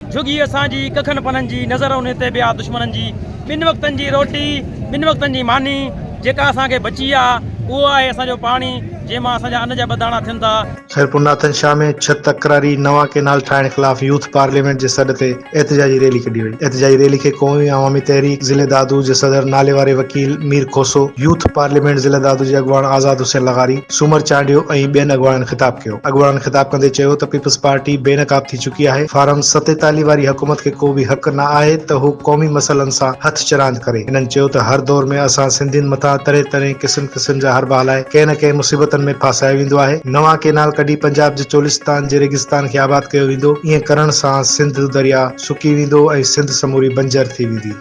جهڳي اسان جي ڪکن پنن جي نظر انهي تي به آ دشمنن جي ٻن وقتن جي روٽي ٻن وقتن جي ماني جيڪا اسان کي بچي آ اهو آهي اسان جو پاڻي جنهن مان اسان جا ان جا ٻه داڻا ٿين ٿا. خيرپور ناٿن شاهه ۾ ڇهه تڪراري نوان ڪئنال ٺاهڻ خلاف يوٿ پارليامينٽ جي سڏ تي احتجاجي ريلي ڪڍي وئي احتجاجي ريلي کي قومي عوامي تحريڪ ضلعي دادو جي صدر ناليواري وڪيل مير کوسو يوٿ پارليامينٽ ضلعي دادو جي اڳواڻ آزاد حسين لغاري سومر چانڊيو ۽ ٻين اڳواڻن خطاب ڪيو اڳواڻن خطاب ڪندي چيو ته پيپلز پارٽي بي نقاب ٿي چڪي آهي، فارم ستيتاليهه واري حڪومت کي ڪو به حق نه آهي ته هو قومي مسئلن سان هٿ چراند ڪري، هنن چيو ته هر دور ۾ اسان سنڌين مٿان طرح طرح قسم قسم جا حربا هلائي ڪنهن نه ڪنهن مصيبتن ۾ ڦاسايو ويندو آهي، نوان ڪينال ڪڍي پنجاب جي چولستان جي ريگستان کي آباد ڪيو ويندو، ائين ڪرڻ سان سنڌ درياء سڪي ويندو ۽ سنڌ سموري بنجر ٿي ويندي.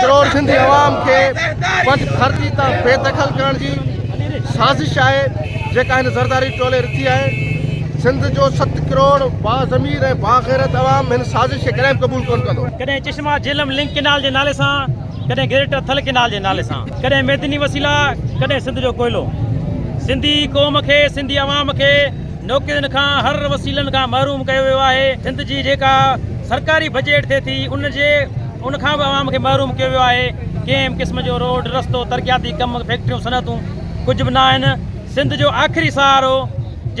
ڪروڙ سنڌي عوام کي پنج ڌرتي تان بي دخل ڪرڻ جي سازش آهي جيڪا هن زرداري ٽولي رٿي آهي سنڌ جو ست ڪروڙ با ضمير ۽ با غيرت عوام هن سازش کي ڪڏهن قبول ڪون ڪندو ڪڏهن چشما جهلم لنڪ ڪينال جي نالي سان ڪڏهن گريٽر ٿل ڪينال جي نالي سان ڪڏهن ميدني وسيلا ڪڏهن سنڌ جو ڪوئلو سنڌي قوم کي سنڌي عوام کي نوڪرين کان هر وسيلن کان محروم ڪيو ويو آهي، سنڌ جي جيڪا سرڪاري بجيٽ ٿئي ٿي ان جي ان کان به عوام کي محروم ڪيو ويو آهي، ڪنهن به قسم جو روڊ، رستو، ترقياتي ڪم، فيڪٽريون، صنعتون ڪجهه به نه آهن، سنڌ جو آخري سهارو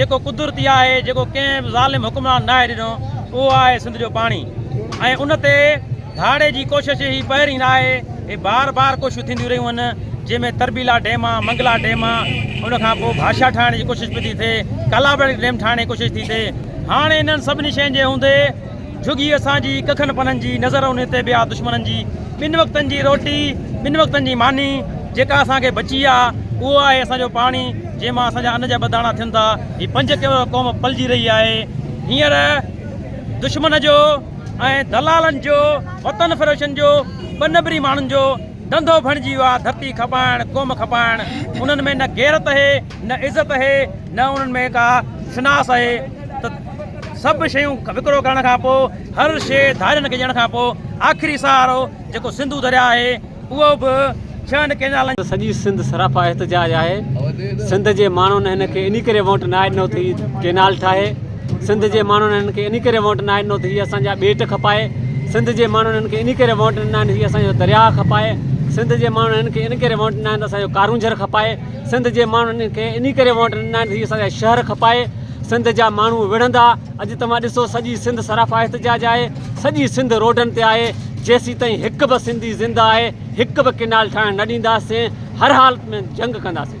جيڪو قدرتي آهي، جيڪو ڪنهن به ظالم حڪمران ناهي ڏنو اهو آهي سنڌ جو پاڻي ۽ ان تي ڌاڙي جي ڪوشش هي پهرين ناهي. اهي بار بار ڪوششون ٿينديون رهيون آهن جنهن ۾ تربيلا ڊيم آهي منگلا ڊيم آهي ان کان پوء ڀاشا ٺاهڻ جي ڪوشش به ٿي ٿئي ڪالابڙ ڊيم ٺاهڻ جي ڪوشش ٿي ٿئي هاڻي انهن سڀني شين جي هوندي جھگي اسان جي ڪکن پنن جي نظر ان تي به آهي دشمنن جي ٻن وقتن جي روٽي ٻن وقتن جي ماني جيڪا اسان کي بچي آهي اهو آهي اسان جو پاڻي جنهن مان اسان جا ان جا ٻه داڻا ٿين ٿا هي پنج قوم پلجي رهي آهي هينئر دشمن جو ۽ دلالن جو وطن فروشن جو ٻه نمبري ماڻهن جو ڌنڌو بڻجي ويو آهي ڌرتي کپائڻ قوم کپائڻ انهن ۾ نه غيرت اهي نه عزت اهي نه انهن ۾ ڪا شناس اهي ته سڀ شيون وڪرو ڪرڻ کان پوء هر شيء ڌارين کي ڏيڻ کان پوء آخري سهارو جيڪو سنڌو درياهه اهي اهو به ڇهن ڪينالن جو. سڄي سنڌ سراپا احتجاج آهي سنڌ جي ماڻهن هن کي انهي ڪري ووٽ ناهي ڏنو ته هي ڪينال ٺاهي سنڌ جي ماڻهن هن کي انهي ڪري ووٽ ناهي ڏنو ته هي اسان جا ٻيٽ کپائي سنڌ جي ماڻهن هن کي انهي ڪري ووٽ ڏنا آهن هي اسان جو درياء کپائي سنڌ جي ماڻهن هن کي انهي ڪري ووٽ ڏنا آهن ته اسان جو ڪارونجهر کپائي سنڌ جي ماڻهن هن کي انهي ڪري ووٽ ڏنا آهن ته هي اسان جا شهر کپائي سنڌ جا ماڻهو وڙهندا اڄ توهان ڏسو سڄي سنڌ سراپا احتجاج آهي. سڄي سنڌ روڊن تي آهي، جيسيتائين هڪ به سنڌي زنده آهي، هڪ به ڪئنال ٺاهڻ نه ڏينداسين، هر حالت ۾ جنگ ڪنداسين.